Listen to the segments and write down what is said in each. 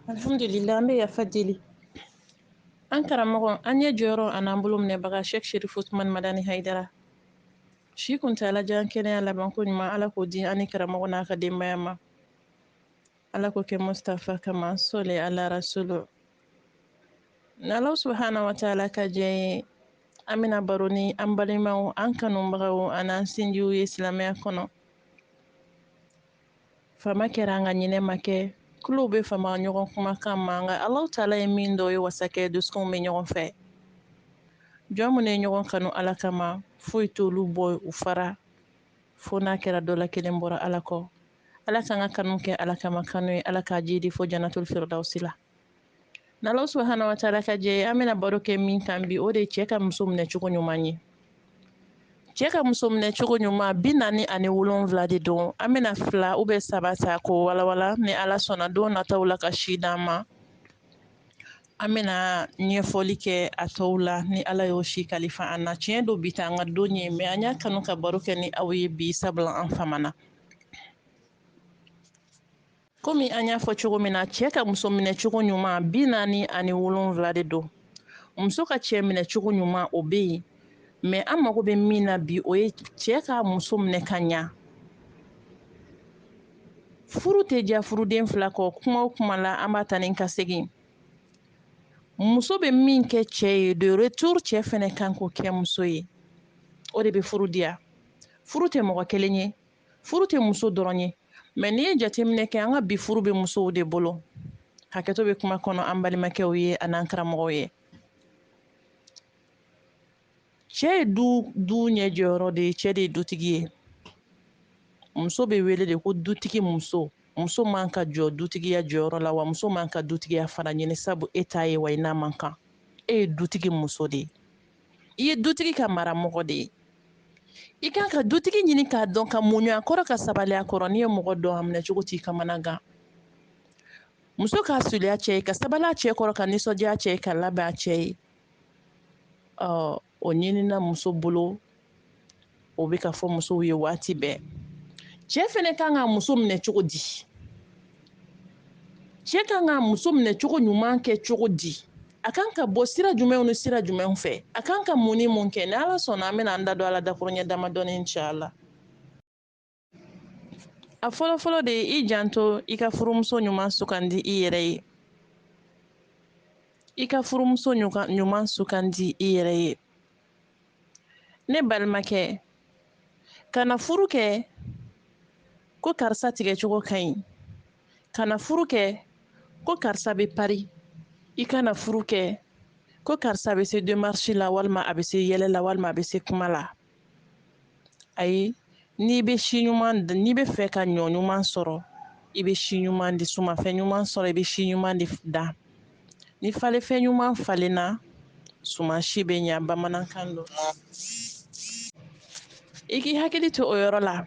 alhamdulillah an bɛ yafa deli an karamɔgɔ an ɲɛ jɔyɔrɔ an'an bolo minɛbaga shek sherifu usumani madani hayidara si kuntaala jan kɛnɛya labanko ɲuman ala k'o di an ni karamɔgɔ n'a ka denbaya ma ala k'o kɛ mustafa kama sɔli ala rasulu n'ala subahana wa taala ka jɛn ye an bɛna baro ni an balimaw an kanubagaw an'an sinjiw ye silamɛya kɔnɔ fama kɛra nka ɲinɛ ma kɛ tulow bɛ fama ɲɔgɔn kumakan ma nka alahu taala ye min dɔn o ye wasa kɛ dusukunw bɛ ɲɔgɔn fɛ jɔn minnu ye ɲɔgɔn kanu ala kama foyi t'olu bɔ u fara fo n'a kɛra dɔ la kelen bɔra ala kɔ ala k'an ka kanu kɛ ala kama kanu ye ala k'a jidi fo janatoli firidawusi la n'ala subahana wa taala ka jɛn ye an bɛna baro kɛ min kan bi o de ye cɛ ka muso minɛ cogo ɲuman ye cɛ ka muso minɛ cogo ɲuman bi naani ani wolonwula de don an bɛna fila ou bien saba ta k'o walawala ni ala sɔnna don nataw la ka si d'an ma an bɛna ɲɛfɔli kɛ a tɔw la ni ala y'o si kalifa an na tiɲɛ don bi t'an ka don ye mais an y'a kanu ka baro kɛ ni aw ye bi sabula an famana komi an y'a fɔ cogo min na cɛ ka muso minɛ cogo ɲuman bi naani ani wolonwula de don muso ka cɛ minɛ cogo ɲuman o bɛ yen mais an mago bɛ min na bi o ye cɛ ka muso minɛ ka ɲa furu tɛ diya furuden fila kɔ kuma o kuma la an b'a taa ni ka segin muso bɛ min kɛ cɛ ye de retour cɛ fɛnɛ kan k'o kɛ muso ye o de bɛ furu diya furu tɛ mɔgɔ kelen ye furu tɛ muso dɔrɔn ye mais n'i ye jateminɛ kɛ an ka bi furu bɛ musow de bolo hakɛto bɛ kuma kɔnɔ an balimakɛw ye an'an karamɔgɔw ye cɛ ye du ɲɛ jɔyɔrɔ de ye cɛ de ye dutigi ye muso bɛ wele de ko dutigi muso muso man ka jɔ dutigiya jɔyɔrɔ la wa muso man ka dutigiya fana ɲini sabu e t'a ye wa i n'a man kan e ye dutigi muso de ye i ye dutigi ka mara mɔgɔ de ye i kan ka dutigi ɲini k'a dɔn ka muɲu a kɔrɔ ka sabali a kɔrɔ n'i ye mɔgɔ dɔn a minɛ cogo t'i kamanagan muso ka suuli a cɛ ye ka sabali a cɛ kɔrɔ ka nisɔndiya a cɛ ye ka labɛn a cɛ ye ɔ o ɲinina muso bolo o bɛ ka fɔ musow ye waati bɛɛ cɛ fɛnɛ kan ka muso minɛ cogo di cɛ kan ka muso minɛ cogo ɲuman kɛ cogo di a kan ka bɔ sira jumɛnw ni sira jumɛnw fɛ a kan ka mun ni mun kɛ ni ala sɔnna an bɛna an da don a la dakuruɲɛ damadɔni inshallah a fɔlɔfɔlɔ de ye i janto i ka furumuso ɲuman sugandi i yɛrɛ ye i ka furumuso ɲuman sugandi i yɛrɛ ye ne balimakɛ kana furu kɛ ko karisa tigɛcogo ka ɲi kana furu kɛ ko karisa bɛ pari i kana furu kɛ ko karisa bɛ se démarche la walima a bɛ se yɛlɛ la walima a bɛ se kuma la ayi n'i bɛ si ɲuman n'i bɛ fɛ ka ɲɔ ɲuman sɔrɔ i bɛ si ɲuman de sumanfɛn ɲuman sɔrɔ i bɛ si ɲuman de dan ni falenfɛn ɲuman falenna suman si bɛ ɲa bamanankan don i k'i hakili to o yɔrɔ la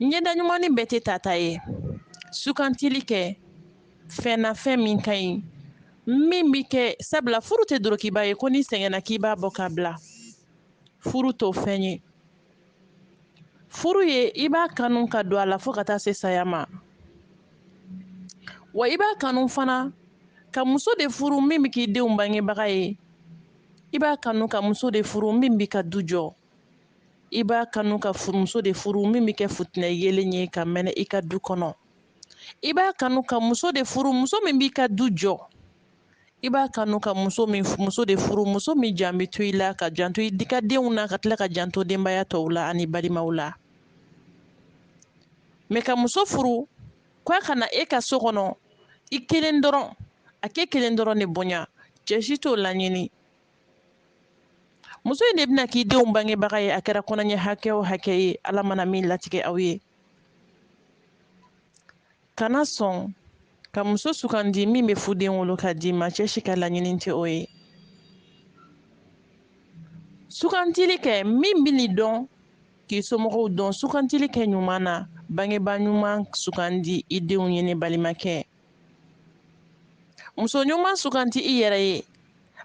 ɲɛda ɲumannin bɛɛ tɛ tata ye sugantili kɛ fɛn na fɛn min ka ɲi min bɛ kɛ sabula furu tɛ dorokiba ye ko n'i sɛgɛnna k'i b'a bɔ k'a bila furu t'o fɛn ye furu ye i b'a kanu ka don a la fo ka taa se saya ma wa i b'a kanu fana ka muso de furu min bɛ k'i denw bangebaga ye i b'a kanu ka muso de furu min b'i ka du jɔ i b'a kanu ka furumuso de furu min bɛ kɛ futinɛ yeelen ye ka mɛnɛ i ka du kɔnɔ i b'a kanu ka muso de furu muso min b'i ka du jɔ i b'a kanu ka muso min muso de furu muso min jan bɛ to i la ka janto i ka denw na ka tila ka janto denbaya tɔw la ani balimaw la mais ka muso furu k'a ka na e ka so kɔnɔ i kelen dɔrɔn a k'e kelen dɔrɔn de bonya cɛ si t'o laɲini muso in de bɛna k'i denw bangebaga ye a kɛra kɔnɔɲɛ hakɛ o hakɛ ye ala mana min latigɛ aw ye kana sɔn ka muso sugandi min bɛ fuden wolo ka d'i ma cɛ si ka laɲini tɛ o ye sugantili kɛ min bɛn'i dɔn k'i somɔgɔw dɔn sugantili kɛ ɲuman na bangebaa ɲuman sugandi i denw ye ne balimakɛ muso ɲuman suganti i yɛrɛ ye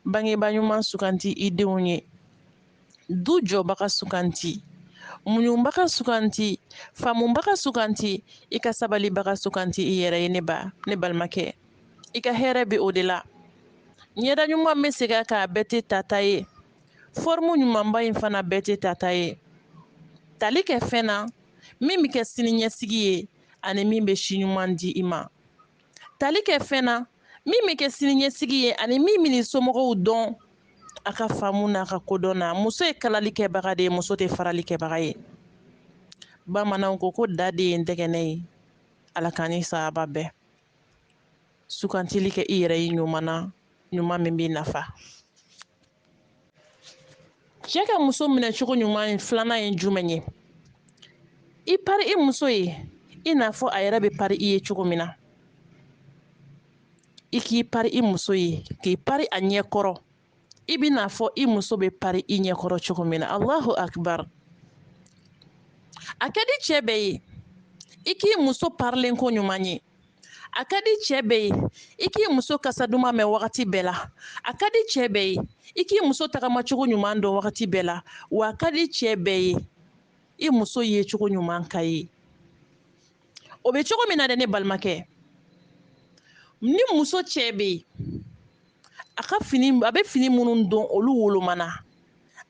bangebaa ɲuman suganti i denw ye du jɔbaga suganti muɲubaga suganti faamubaga suganti i ka sabalibaga suganti i yɛrɛ ye ne ba ne balimakɛ i ka hɛrɛ bɛ o de la ɲɛda ɲuman n bɛ segin a kan a bɛɛ tɛ tata ye forme ɲumanba in fana bɛɛ tɛ tata ye tali kɛ fɛn na min bɛ kɛ siniɲɛsigi ye ani min bɛ si ɲuman di i ma tali kɛ fɛn na min bɛ kɛ siniɲɛsigi ye ani min bɛn'i somɔgɔw dɔn a ka faamu n'a ka kodɔn na muso ye kalali kɛbaga de ye muso tɛ farali kɛbaga ye bamananw ko ko da de ye ntɛgɛnɛ ye ala k'an ni sahaba bɛn sugantili kɛ i yɛrɛ ye ɲuman na ɲuman min b'i nafa cɛ ka muso minɛ cogo ɲuman filanan ye jumɛn ye i pari i muso ye i n'a fɔ a yɛrɛ bɛ pari i ye cogo min na i k'i pari i muso ye k'i pari a ɲɛ kɔrɔ i bɛ n'a fɔ i muso bɛ pari i ɲɛ kɔrɔ cogo min na alahu akibar a ka di cɛ bɛɛ ye i k'i muso parilen koɲuman ye a ka di cɛɛ bɛɛ ye i k'i muso kasa duman mɛn wagati bɛɛ la a ka di cɛɛ bɛɛ ye i k'i muso tagamacogo ɲuman dɔn wagati bɛɛ la wa a ka di cɛɛ bɛɛ ye i muso ye cogo ɲuman ka ye o bɛ cogo min na dɛ ne balimakɛ ni muso cɛɛ bɛ yen a bɛ fini minnu don olu wolomana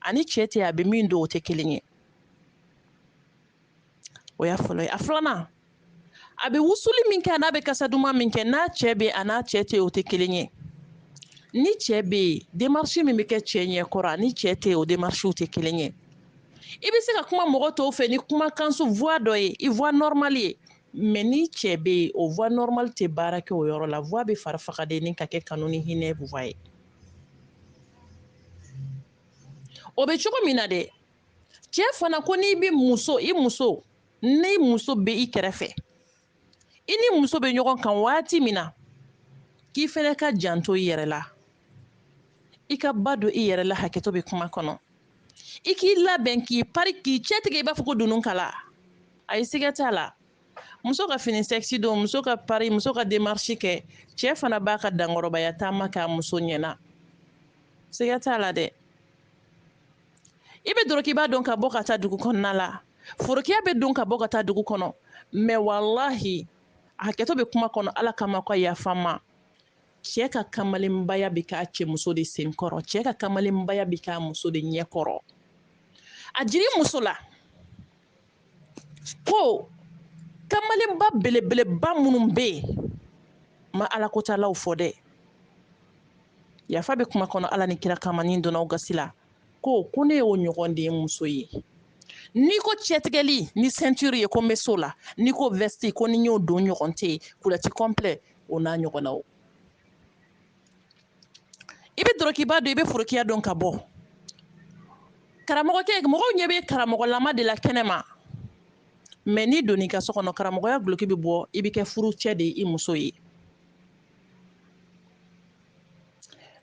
ani cɛɛ tɛ a bɛ min don o tɛ kelen ye o y'a fɔlɔ ye a filanan a bɛ wusuli min kɛ an'a bɛ kasa duman min kɛ n'a cɛ bɛ an'a cɛ tɛ o tɛ kelen ye ni cɛ bɛ yen démarche min bɛ kɛ cɛ ɲɛ kɔrɔ ani cɛ tɛ o démarchew tɛ kelen ye i bɛ se ka kuma mɔgɔ tɔw fɛ ni kumakanso voix dɔ ye i voix normale ye mais ni cɛ bɛ yen o voix normale tɛ baara kɛ o yɔrɔ la voix bɛ fari faga dennin ka kɛ kanu ni hinɛ voix ye o bɛ cogo min na dɛ cɛ fana ko n'i bɛ muso i muso ni muso bɛ i kɛrɛfɛ i ni muso bɛ ɲɔgɔn kan waati min na k'i fɛnɛ ka janto i yɛrɛ la i ka ba don i yɛrɛ la hakɛto bɛ kuma kɔnɔ i k'i labɛn k'i pari k'i cɛtigɛ i b'a fɔ ko dununkala a ye siga t'a la muso ka fini sexy don muso ka pari muso ka démarche kɛ cɛɛ fana b'a ka dankɔrɔbaya taama k'a muso ɲɛna siga t'a la dɛ i bɛ dorokiba don ka bɔ ka taa dugu kɔnɔna la forokiya bɛ don ka bɔ ka taa dugu kɔnɔ mais walahi a hakɛto bɛ kuma kɔnɔ ala kama ka yafa n ma cɛ ka kamalenbaya bɛ k'a cɛ muso de senkɔrɔ cɛ ka kamalenbaya bɛ k'a muso de ɲɛkɔrɔ a jiri muso la ko kamalenba belebeleba minnu bɛ yen n ma alakotalaw fɔ dɛ yafa bɛ kuma kɔnɔ ala ni kira kama ni n donn'aw gasi la ko ko ne y'o ɲɔgɔn de n muso ye n'i ko cɛtigɛli ni ceinture ye ko n bɛ so la n'i ko veste ko ni n y'o don ɲɔgɔn tɛ yen culotte complet o n'a ɲɔgɔnnaw i bɛ dorokiba don i bɛ forokiya don ka bɔ karamɔgɔkɛ mɔgɔw ɲɛ bɛ karamɔgɔlama de la kɛnɛ ma mais n'i donn'i ka so kɔnɔ karamɔgɔya guloki bɛ bɔ i bɛ kɛ furucɛ de ye i muso ye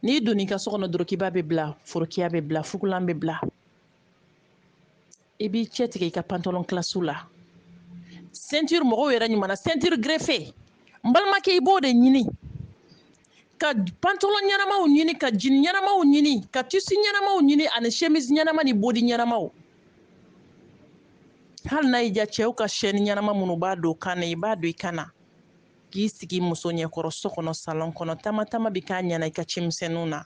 n'i donn'i ka so kɔnɔ dorokiba bɛ bila forokiya bɛ bila fugulan bɛ bila i b'i cɛ tigɛ i ka pantalon classe la ceinture mɔgɔw yɛrɛ ɲuman na ceinture griffée n balimakɛ i b'o de ɲini ka pantalon ɲɛnamaw ɲini ka jean ɲɛnamaw ɲini ka tissu ɲɛnamaw ɲini ani chemise ɲɛnama ni body ɲɛnamaw hali n'a y'i diya cɛw ka chaîne ɲɛnama minnu b'a don kan na i b'a don i kan na k'i sigi muso ɲɛkɔrɔ so kɔnɔ salon kɔnɔ taama taama bɛ k'a ɲɛna i ka ci misɛnninw na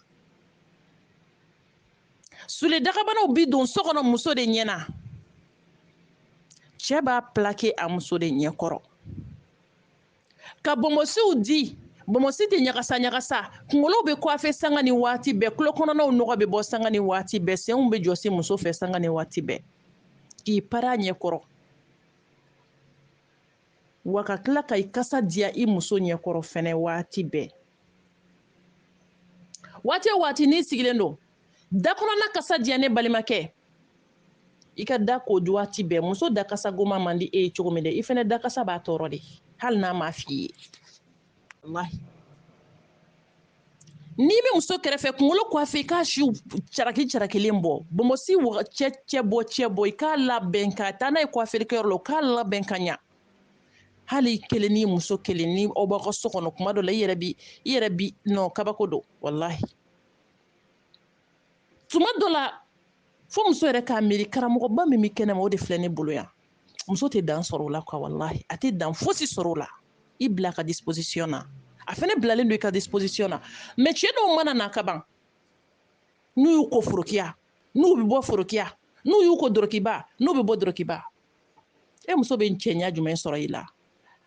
soulier dagabanaw bi don so kɔnɔ muso de ɲɛ na cɛ b'a plaquer a muso de ɲɛ kɔrɔ ka bɔnbɔsiw di bɔnbɔsi tɛ ɲagasa ɲagasa kunkolow bɛ coiffer sanga ni waati bɛɛ tulo kɔnɔnaw nɔgɔ bɛ bɔ sanga ni waati bɛɛ senw bɛ jɔsi muso fɛ sanga ni waati bɛɛ k'i pari a ɲɛ kɔrɔ wa ka tila ka i kasa diya i muso ɲɛkɔrɔ fɛnɛ waati bɛɛ waati o waati n'i sigilen don da kɔnɔna kasa diya ne balimakɛ i ka da ko waati bɛɛ muso da kasa goma man di e ye cogo min dɛ i fɛnɛ da kasa b'a tɔɔrɔ de hali n'a m'a f'i ye walahi n'i bɛ muso kɛrɛfɛ kunkolo coiffer i k'a siw caraki carakilen bɔ bɔnbɔsi cɛ cɛ bɔ cɛ bɔ i k'a labɛn ka taa n'a ye kwafelikɛyɔrɔ la u k'a labɛn ka ɲa hali i kelen ni muso kelen ni aw b'aw ka so kɔnɔ kuma dɔ la i yɛrɛ bi i yɛrɛ bi non kabako don walahi tuma dɔ la fo muso yɛrɛ k'a miiri karamɔgɔba min bɛ kɛnɛma o de filɛ ne bolo yan muso tɛ dan sɔrɔ o la quoi walahi a tɛ dan fosi sɔrɔ o la i bila a ka disposition na a fɛnɛ bilalen don i ka disposition na mais cɛ dɔw mana na ka ban n'u y'u ko forokiya n'u bɛ bɔ forokiya n'u y'u ko dorokiba n'u bɛ bɔ dorokiba e muso bɛ cɛɲa jumɛn sɔrɔ i la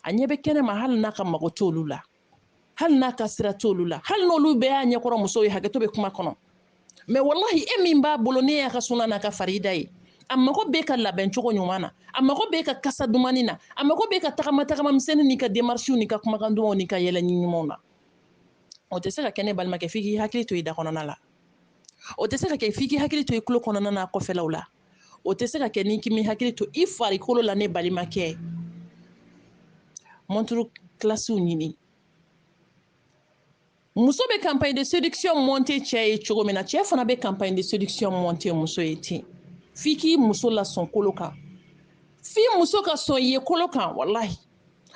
a ɲɛ bɛ kɛnɛ ma hali n'a ka mago t'olu la hali n'a ka sira t'olu la hali n'olu bɛɛ y'a ɲɛkɔrɔ muso ye hakɛto bɛ kuma kɔnɔ mais walahi e min b'a bolo n'e y'a ka suna n'a ka farida ye a mago b'e ka labɛn cogo ɲuman na a mago b'e ka kasa dumani na a mago b'e ka tagama tagama misɛnni n'i ka demarisiw n'i ka kumakan dumanw n'i ka yɛlɛ ɲumanw na o tɛ se ka kɛ ne balimakɛ f'i k'i hakili to i da kɔnɔna la o tɛ se ka kɛ f'i k'i hakili to i tulo kɔnɔna n'a kɔfɛlaw la o tɛ se ka kɛ n'i k'i hakili to i farikolo la ne balimakɛ montre classew ɲini muso bɛ campagne de séduction monter cɛ ye cogo min na cɛ fana bɛ campagne de séduction monter muso ye ten f'i k'i muso lasɔn kolo kan f'i muso ka sɔn i ye kolo kan walahi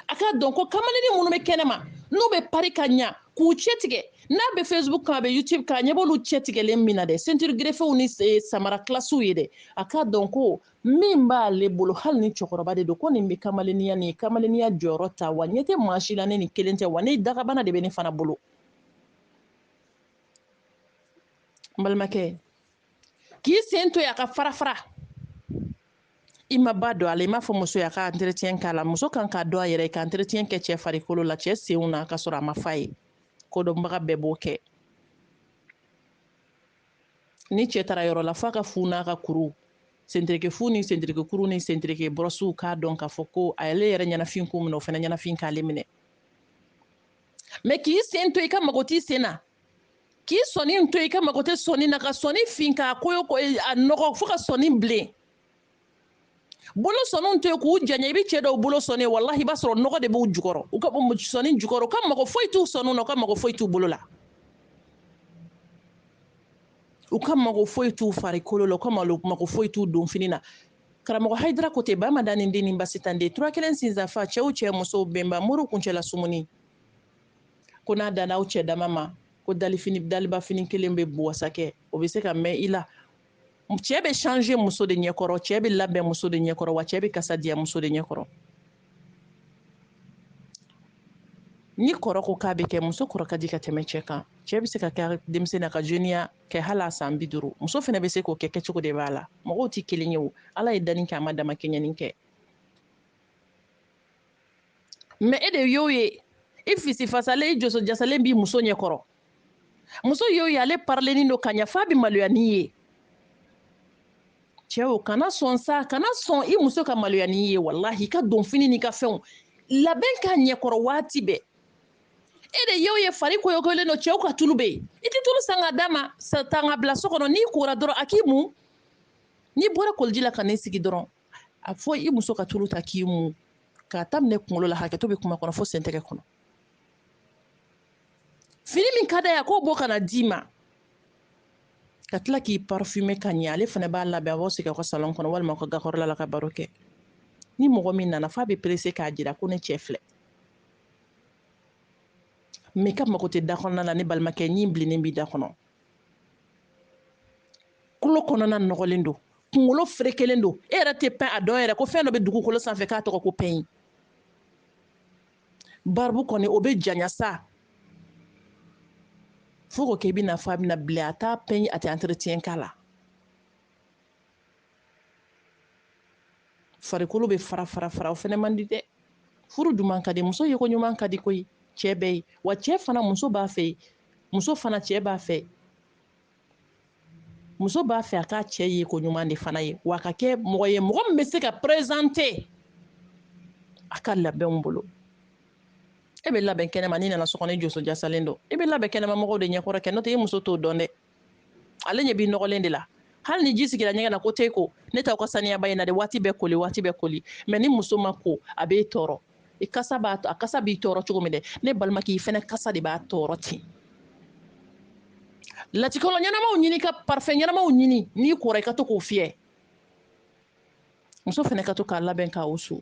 a k'a dɔn ko kamalenni minnu bɛ kɛnɛma n'u bɛ pari ka ɲa k'u cɛtigɛ n'a bɛ facebook kan a bɛ youtube kan a ɲɛ b'olu cɛtigɛlen min na dɛ ceinture grifféew ni eh, samara classew ye dɛ a k'a dɔn ko min b'ale bolo hali ni cɛkɔrɔba de don ko nin bɛ kamaleniya nin kamaleniya jɔyɔrɔ ta wa ɲɛ tɛ maa si la ni nin kelen tɛ wa ne dagabana de bɛ ne fana bolo n balimakɛ k'i sen to yen a ka fara fara i ma ba don a la i m'a fɔ muso y'a ka entretien k'a la muso kan k'a dɔn a yɛrɛ ye ka entretien kɛ cɛ farikolo la cɛ senw na k'a sɔrɔ a ma f'a ye kodɔnbaga bɛɛ b'o kɛ ni cɛ taara yɔrɔ la f'a ka fu n'a ka kuru sentereke fu ni sentereke kuru ni sentereke bɔrɔsiw k'a dɔn k'a fɔ ko ale yɛrɛ ɲɛnafin k'o minɛ o fana ɲɛnafin k'ale minɛ mɛ k'i sen to i ka mago t'i sen na k'i sɔni to i ka mago tɛ sɔni na ka sɔni fin k'a koyo k'a nɔgɔ fo ka sɔni bilen bolo sɔniw to yen k'u janya i bɛ cɛ dɔw bolo sɔni walahi i b'a sɔrɔ nɔgɔ de b'u jukɔrɔ u ka sɔni jukɔrɔ u ka mago foyi t'u sɔniw na u ka mago foyi t'u bolo la u ka mago foyi t'u farikolo la u ka mago foyi t'u donfini na karamɔgɔ hayidara ko ten ba madani den ni basitan den tura kelen sinsanfa cɛw cɛ musow bɛnba moriw kuncɛla sumuni ko n'a danna aw cɛ dama ma ko dalifini daliba fini kelen pe b'u wasa kɛ o bɛ se ka mɛn i la cɛ bɛ change muso de ɲɛkɔrɔ cɛ bɛ labɛn muso de ɲɛkɔrɔ wa cɛ bɛ kasa diya muso de ɲɛkɔrɔ ni kɔrɔ ko k'a bɛ kɛ muso kɔrɔ ka di ka tɛmɛ cɛ kan cɛ bɛ se ka kɛ denmisɛnnin na ka jeniya kɛ hali a san bi duuru muso fana bɛ se k'o kɛ kɛcogo de b'a la mɔgɔw tɛ kelen ye o ala ye danni kɛ a ma damakɛɲɛni kɛ mɛ e de y'o ye i fisi fasalen i joso jasalen b'i muso ɲɛkɔrɔ muso y'o ye ale parilenin don ka ɲa f'a bɛ maloya n'i ye cɛw kana sɔn sa kana sɔn i muso ka maloya n'i ye walahi i ka donfini n'i ka fɛnw labɛn k'a ɲɛkɔrɔ waati bɛɛ e de y'o ye fari koyokoyolen don cɛw ka tulu bɛ yen i tɛ tulu san ka d'a ma tan k'a bila so kɔnɔ n'i kora dɔrɔn a k'i mun n'i bɔra koliji la ka n'i sigi dɔrɔn a fɔ i muso ka tulu ta k'i mu k'a daminɛ kunkolo la hakɛto bɛ kuma kɔnɔ fo sen tɛgɛ kɔnɔ fini min ka d'a ye a k'o bɔ ka na d'i ma ka tila k'i parfume ka ɲɛ ale fana b'a labɛn a b'aw sigi aw ka salon kɔnɔ walima aw ka gakɔrɔla la ka baro kɛ ni mɔgɔ min nana f'a bɛ perese k'a jira ko ne cɛ filɛ mɛ ka mago tɛ da kɔnɔna la ne balimakɛ ɲin bilennen b'i da kɔnɔ kulo kɔnɔna nɔgɔlen don kunkolo ferekelen don e yɛrɛ tɛ pɛn a dɔn yɛrɛ ko fɛn dɔ bɛ dugukolo sanfɛ k'a tɔgɔ ko pɛɲi baribu kɔni o bɛ janya sa fo k'o kɛ i bɛna fɔ a bɛna bilen a t'a pɛɲi a tɛ entretien k'a la farikolo bɛ fara fara fara o fɛnɛ man di dɛ furu duman ka di muso yeko ɲuman ka di koyi cɛ bɛɛ ye wa cɛ fana muso b'a fɛ muso fana cɛ b'a fɛ muso b'a fɛ a k'a cɛ yeko ɲuman de fana ye wa a ka kɛ mɔgɔ ye mɔgɔ min bɛ se ka perezante a ka labɛnw bolo e bɛ labɛn kɛnɛma n'i nana so kɔnɔ i joso jasalen don i bɛ labɛn kɛnɛma mɔgɔw de ɲɛkɔrɔ kɛ n'o tɛ i muso t'o dɔn dɛ ale ɲɛ b'i nɔgɔlen de la hali ni ji sigira ɲɛgɛn na ko tɛ ko ne t'aw ka saniyaba in na dɛ waati bɛɛ koli waati bɛɛ koli mɛ ni muso ma ko a b'e tɔɔrɔ i kasa b'a a kasa b'i tɔɔrɔ cogo min dɛ ne balimakɛ i fɛnɛ kasa de b'a tɔɔrɔ ten latikɔlɔ ɲɛnamaw ɲini ka parfɛn ɲɛnamaw ɲini n'i kora i ka to k'o fiyɛ muso fɛnɛ ka to k'a labɛn k'a wusu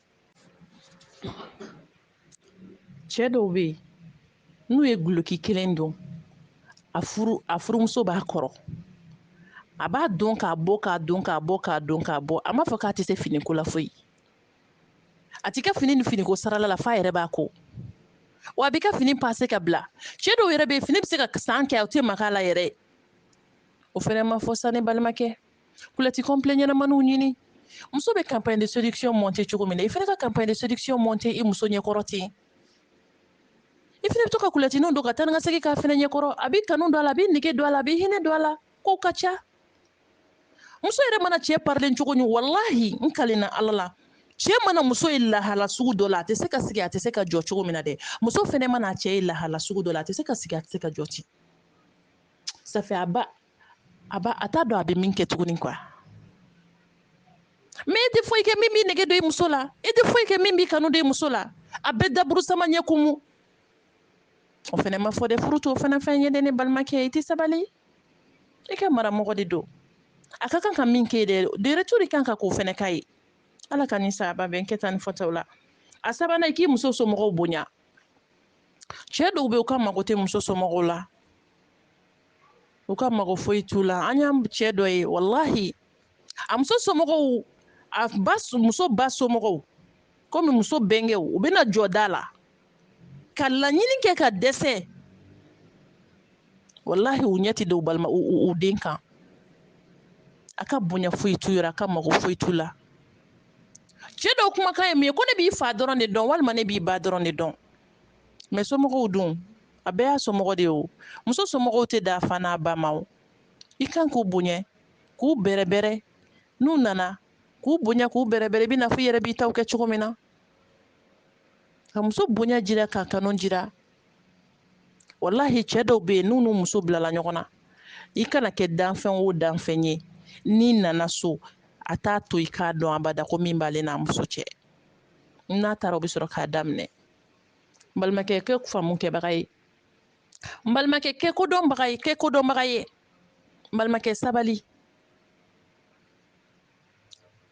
cɛ dɔw bɛ yen n'u ye guloki kelen don a furu a furumuso b'a kɔrɔ a b'a don k'a bɔ k'a don k'a bɔ k'a don k'a bɔ a m'a fɔ k'a tɛ se finiko la foyi a t'i ka fini ni finiko sarala la f'a yɛrɛ b'a ko wa a b'i ka fini pase ka bila cɛ dɔw yɛrɛ bɛ yen fini bɛ se ka san kɛ a tɛ maka a la yɛrɛ o fɛnɛ ma fɔ sa ne balimakɛ kulɛti kɔnplɛ ɲɛnamaniw ɲini muso bɛ campagne de séduction monter cogo min na i fɛnɛ ka campagne de séduction monter i muso ɲɛkɔrɔ ten i fɛnɛ bɛ to ka kulɛtiniw don ka taa ni ka segin k'a fɛnɛ ɲɛkɔrɔ a b'i kanu don a la a b'i nege don a la a b'i hinɛ don a la kow ka ca muso yɛrɛ mana cɛ parilen cogo ni walahi n kalenna ala la cɛ mana muso ye lahala sugu dɔ la a tɛ se ka sigi a tɛ se ka jɔ cogo min na dɛ muso fɛnɛ mana cɛ ye lahala sugu dɔ la a tɛ se ka sigi a tɛ se ka jɔ ten safiyaba a ba a t'a dɔn a bɛ min kɛ tuguni kuwa mɛ i tɛ foyi kɛ min b'i nege don i muso la i tɛ foyi kɛ min b'i kanu don i muso la a bɛ daburu sama ɲɛ kumu o fɛnɛ ma fɔ dɛ furu t'o fana fɛn ye dɛ ne balimakɛ i tɛ sabali i ka maramɔgɔ de don a ka kan ka min kɛ dɛ de retour de kan ka k'o fɛnɛ k'a ye ala k'an ni saba bɛn kɛta ni fɔtaw la a sabanan i k'i muso somɔgɔw bonya cɛ dɔw bɛ yen u ka mago tɛ muso somɔgɔw la u ka mago foyi t'u la an y'an cɛ dɔ ye walahi a muso somɔgɔw a ba muso ba somɔgɔw komi muso bɛnkɛw u bɛna jɔ da la ka laɲini kɛ ka dɛsɛ walahi u ɲɛ tɛ da u balima u den kan a ka bonya foyi t'u yɔrɔ a ka mago foyi t'u la cɛ dɔw kumakan ye min ye ko ne b'i fa dɔrɔn de dɔn walima ne b'i ba dɔrɔn de dɔn mɛ somɔgɔw dun a bɛɛ y'a somɔgɔ de ye o muso somɔgɔw tɛ dan a fa n'a ba ma o i kan k'u bonya k'u bɛrɛbɛrɛ n'u nana k'u bonya k'u bɛrɛbɛrɛ i bɛ n'a fɔ i yɛrɛ b'i taw kɛ cogo min na ka muso bonya jira k'a kanu jira walahi cɛ dɔw bɛ yen n'u n'u muso bilala ɲɔgɔn na i kana kɛ danfɛn o danfɛn ye n'i nana so a t'a to i k'a dɔn abada ko min b'ale n'a muso cɛ n'a taara o bɛ sɔrɔ k'a daminɛ n balimakɛ kɛ faamu kɛbaga ye n balimakɛ kɛ kodɔnbaga ye kɛ kodɔnbaga ye n balimakɛ sabali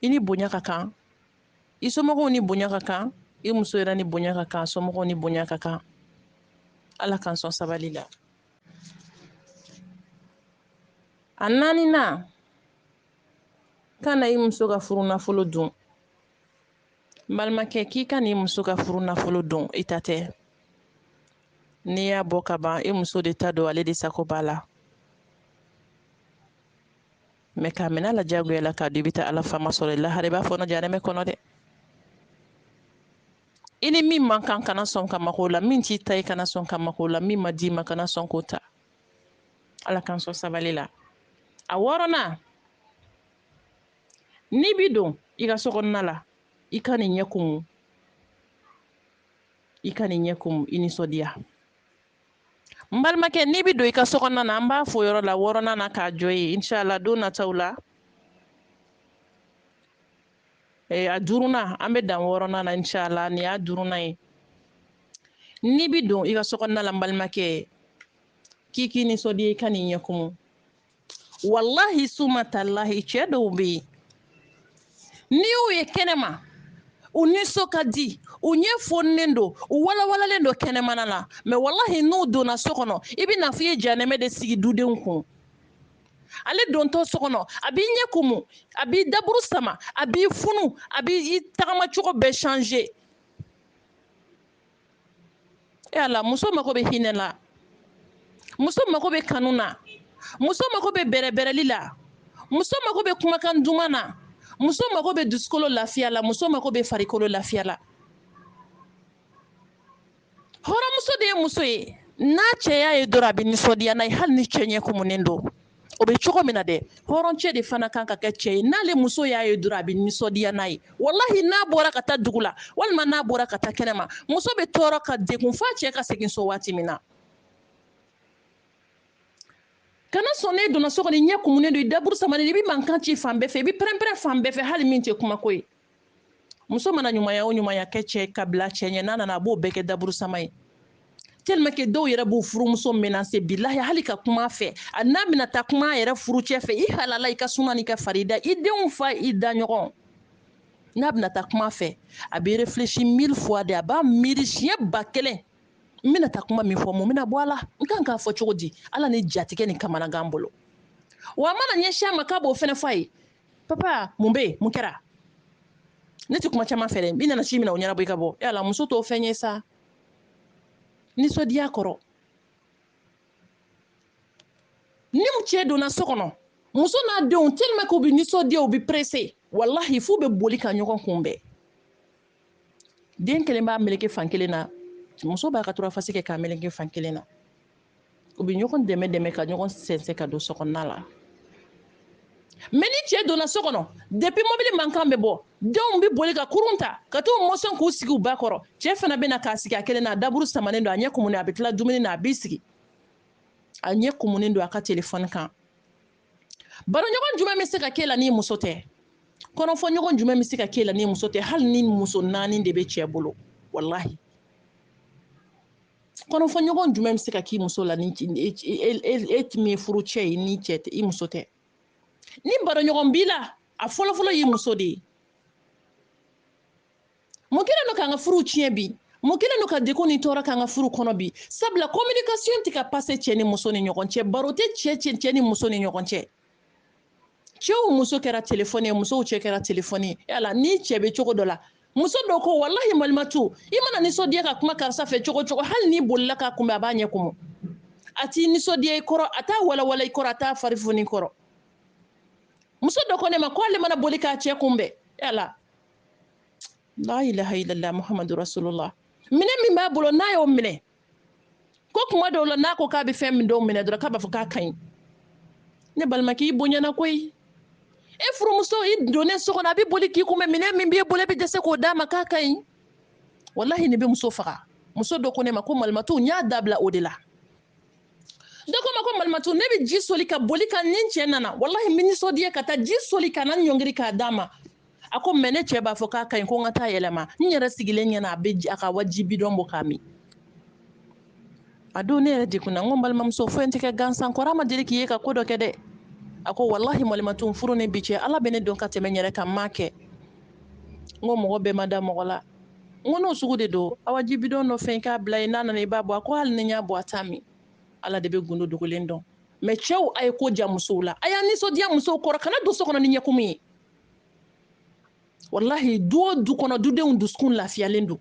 i ni bonya ka kan i somɔgɔw ni bonya ka kan i muso yɛrɛ ni bonya ka kan somɔgɔw ni bonya ka kan ala k'an sɔn sabali la a naaninan kana i muso ka furu nafolo dun n balimakɛ k'i kan'i muso ka furu nafolo dun i ta tɛ n'i y'a bɔ ka ban i muso de ta don ale de sago b'a la mɛ k'a minɛ a la jagoya la k'a dun i bɛ taa ala faama sɔrɔ i lahara i b'a fɔɔnɔ janɛmɛ kɔnɔ dɛ i ni min man kan kana sɔn ka maga o la min t'i ta ye kana sɔn ka maga o la min ma d'i ma kana sɔn k'o ta ala k'an sɔn sabali la a wɔɔrɔnan n'i bi don i ka sokɔnɔna la i kan'i ɲɛ kumu i kan'i ɲɛ kumu i nisɔndiya n balimakɛ n'i bi don i ka sokɔnɔna na an b'a fɔ yɔrɔ la wɔɔrɔnan na k'a jɔ yen inshallah don nataw la eh, a duurunan an bɛ dan wɔɔrɔnan na inshallah nin y'a duurunan ye n'i bi don i ka sokɔnɔna la n balimakɛ k'i k'i nisɔndiya i kan'i ɲɛ kumu walahi suma talahi cɛ dɔw bɛ yen n'i y'u ye kɛnɛma u nisɔn ka di u ɲɛ foninen don u walawalalen don kɛnɛmana la mɛ walahi n'u donna so kɔnɔ i bɛ n'a fɔ u ye janɛmɛ de sigi dudenw kun ale dontɔ so kɔnɔ a b'i ɲɛ kumu a b'i daburu sama a b'i funu a b'i tagamacogo bɛɛ changer e ala muso mago bɛ hinɛ la muso mago bɛ kanu na muso mago bɛ bɛrɛbɛrɛli la muso mago bɛ kumakan duman na muso mago bɛ dusukolo lafiya la muso mago bɛ farikolo lafiya la hɔrɔnmuso de ye muso ye n'a cɛ y'a ye dɔrɔn a bɛ nisɔndiya n'a ye hali ni cɛ ɲɛ kumunen don o bɛ cogo min na dɛ hɔrɔncɛ de fana kan ka kɛ cɛ ye n'ale muso y'a ye dɔrɔn a bɛ nisɔndiya n'a ye walahi n'a bɔra ka taa dugu la walima n'a bɔra ka taa kɛnɛma muso bɛ tɔɔrɔ ka degun f'a cɛ ka segin so waati min na kana sɔn n'e donna so kɔnɔ i ɲɛ kumunen don i daburu samanen i bɛ mankan ci fan bɛɛ fɛ i bɛ pɛrɛnpɛrɛn fan bɛɛ fɛ hali min tɛ kumako ye muso mana ɲumanya o ɲumanya kɛ cɛ ka bila cɛ ɲɛ n'a nana a b'o bɛɛ kɛ daburusama ye tellement que dɔw yɛrɛ b'u furumuso menacer bilahi hali ka kuma a fɛ n'a bɛna taa kuma a yɛrɛ furucɛ fɛ i halala i ka suna n'i ka farida i denw fa i daɲɔgɔn n'a bɛna taa kuma a fɛ a bɛ réfléchi mille fois de a b'a miiri siɲɛ ba kelen n bɛna taa kuma min fɔ mun bɛna bɔ a la n kan k'a fɔ cogo di ala ni jatigɛ ni kamanagan bolo wa a mana ɲɛsin a ma k'a b'o fɛnɛ fɔ a ye papa mun bɛ yen mun kɛra ne tɛ kuma caman fɛ dɛ i nana ci min na o ɲɛnabɔ i ka bɔ yala muso t'o fɛn ye sa nisɔndiya kɔrɔ ni cɛ donna so kɔnɔ muso n'a denw tellement k'u bɛ nisɔndiya u bɛ pressé walahi f'u bɛ boli ka ɲɔgɔn kunbɛn den kelen b'a meleke fan kelen na muso b'a ka turafasi kɛ k'a meleke fan kelen na u bɛ ɲɔgɔn dɛmɛ dɛmɛ ka ɲɔgɔn sɛnsɛn ka don sokɔnɔna la mɛ ni cɛ donna so kɔnɔ depi mobili mankan bɛ bɔ denw bɛ boli ka kurun ta ka t'u mɔsɔn k'u sigi u ba kɔrɔ cɛ fana bɛ na k'a sigi a kelen na a daburu samanen don a ɲɛ kumunen a bɛ tila dumuni na a b'i sigi a ɲɛ kumunen don a ka telefɔni kan baroɲɔgɔn jumɛn bɛ se ka k'e la n'i muso tɛ kɔnɔfɔɲɔgɔn jumɛn bɛ se ka k'e la n'i muso tɛ hali ni muso naani de bɛ cɛ bolo walahi kɔnɔfɔɲɔgɔn jumɛn bɛ se ka k'i muso la ni e min ye furucɛ ye ni cɛ tɛ i muso tɛ ni baroɲɔgɔn b'i la a fɔlɔfɔlɔ y'i muso de ye mun kɛlen don k'an ka furu tiɲɛ bi mun kɛlen don ka degun ni tɔɔrɔ k'an ka furu kɔnɔ bi sabula communication tɛ ka passer cɛ ni muso ni ɲɔgɔn cɛ baro tɛ cɛ cɛ ni muso ni ɲɔgɔn cɛ cɛw muso kɛra telefɔni ye musow cɛ kɛra telefɔni ye yala ni cɛ bɛ cogo dɔ la muso dɔ ko walahi malimatu i mana nisɔndiya ka kuma karisa fɛ cogo cogo hali n'i bolila k'a kunbɛn a b'a ɲɛ kumu a t'i nisɔndiya i kɔrɔ a t'a walawala i kɔrɔ a t'a fari foni i kɔrɔ muso dɔ ko ne ma ko ale mana boli k'a cɛ kunbɛn yala la ilaha illallah muhammadu rasulullah minɛn min b'a bolo n'a y'o minɛ ko kuma dɔw la n'a ko k'a bɛ fɛn min dɔw minɛ dɔrɔn k'a b'a fɔ k'a ka ɲi ne balimakɛ i bonyana koyi e furumuso i donnen so kɔnɔ a bɛ boli k'i kunbɛn minɛn min b'e bolo e bɛ dɛsɛ k'o d'a ma k'a ka ɲi walahi nin bɛ muso faga muso dɔ ko ne ma ko malimatu n y'a dabila o de la dɔ ko n ma ko malimatu ne bɛ ji soli ka boli ka ni n cɛ nana walahi n bɛ nisɔndiya ka taa ji soli ka na ɲɔngiri k'a d'a ma a ko mɛ ne cɛ b'a fɔ k'a ka ɲi ko n ka t'a yɛlɛma n yɛrɛ sigilen ɲɛ na a bɛ a ka awa ji bidɔn bɔ k'a min a don ne yɛrɛ degunna n ko balimamuso foyi tɛ kɛ gansan kɔrɔ ma deli k'i ye ka ko dɔ kɛ dɛ a ko walahi malimatu n furu ni bi cɛ ala bɛ ne dɔn ka tɛmɛ n yɛrɛ kan n m'a kɛ n ko mɔgɔ bɛɛ ma da mɔgɔ la n ko n'o sugu de don awa ji bidɔn dɔ fɛn k'a bila yen n'a nana i b'a bɔ a ko hali ni n y'a bɔ a t'a min ala de bɛ gundo dogolen dɔn mɛ cɛw a ye ko diya musow la a y'a nisɔndiya musow kɔrɔ kana don so kɔnɔ ni ɲɛkumu ye walahi du o du kɔnɔ dudenw dusukun lafiyalen don